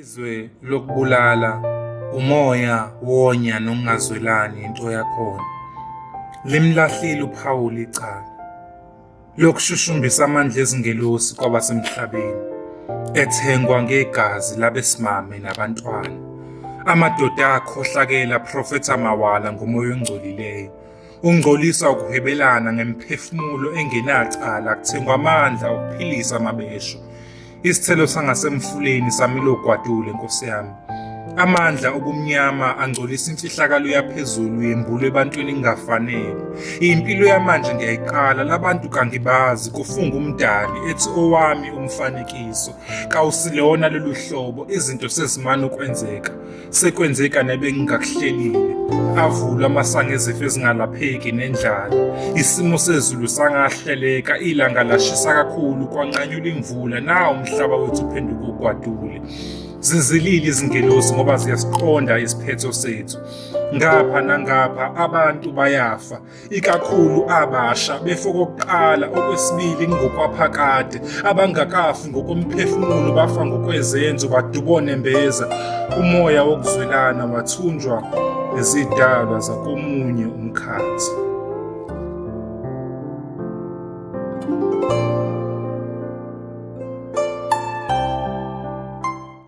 Izwe lokubulala, umoya wonya nokungazwelani into yakhona. Limlahlile uPhawuli icala lokushushumbisa amandla ezingelosi kwabasemhlabeni ethengwa ngegazi labesimame nabantwana. Amadoda akhohlakele aprofetha mawala ngomoya ongcolileyo. Ungcolisa ukuhwebelana ngemphefumulo engenacala kuthengwa amandla okuphilisa amabesho. Isithelo sangasemfuleni samilo gwadule nkosi yami. Amandla obumnyama angcolisa imfihlakalo yaphezulu yembulu ebantwini ingafanele. Impilo yamanje ngiyayiqala labantu kangibazi kufunga umdali ethi owami umfanekiso. Kawusilona lolu hlobo izinto sezimane ukwenzeka. Sekwenze kani ebengingakuhlelile. Avulwa amasango ezifo ezingalapheki nendlala. Isimo sezulu sangahleleka, ilanga lashisa kakhulu, kwanqanyula imvula, nawo umhlaba wethu uphenduka ugwadule. Zizilile izingelosi ngoba ziyasiqonda isiphetho sethu. Ngapha nangapha abantu bayafa, ikakhulu abasha befo kokuqala okwesibili ngokwaphakade abangakafi ngokomphefumulo bafa ngokwezenzo badubone mbeza umoya wokuzwelana wathunjwa nezidalwa zakomunye umkhathi